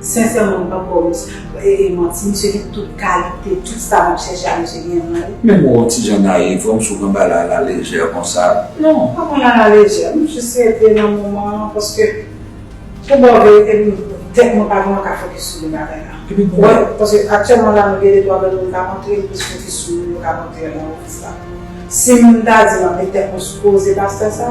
Sincèrement m pap baw manti misye gen tout kalite tout sa map chèche a misye genyen nan li. Menm wè yon ti jan naïve wè misye pran bagay a la légère konsa. Non m pa pran l a la légère m jis rete nan moman an paske pou baw verite m tèt mwen pa vrèman ka focus sou de bagay la. Epi pou wè paske aktyèlman la nou gen de twa lòt moun kap antre m plis focus sou moun yo kap antre la office la. Sim ta di map met tèt mwen sou koze pastè sa.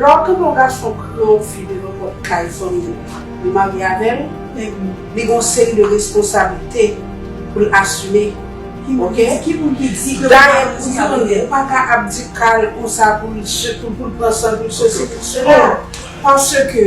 Lò ke yon gason pran yon fi de nenpòt kay fanmi yo, li marye avè l, li gen yon seri de responsablite pou l asime, ok? Dayè pou youn, ou pa ka ap di Carl konsa pou l pran san l pou l sosi, pou l sela, paske.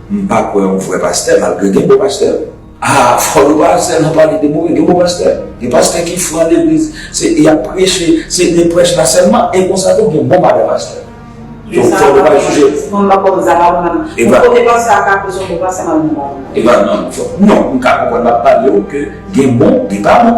M pa kwè yon vrè pastè malgre gen bon pastè. Haa fò nou pa sèlman pale de move gen bon pastè. Gen pastè ki fran legliz se yap preche se de prèch la sèlman e konsa tou gen bon madan pastè. Donk fò nou pa jije. Epa epa non fò non m ka konprann map palew ke gen bon gen pa bon.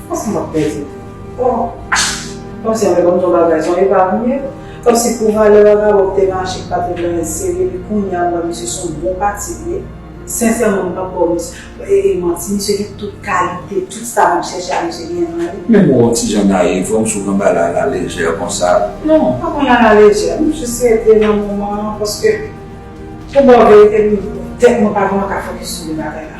Kòmsi map pèdi oh kòmsi avèk yon ton bagay son epa vre kòmsi pou valè vagabon mte mache mpat vin nan yon seri epi kounya m wè misye son bon pati vre sensèman m pap baw manti misye gen tout kalite tout sa map chèche a misye genyen nan li. Menm wè yon ti jan nayiv wè m sou kanbal a la lejè konsa. Non m pa konn a la lejè m jis rete nan moman an paske pou baw verite m tèt mwen pa vrèman ka fokis sou de bagay la.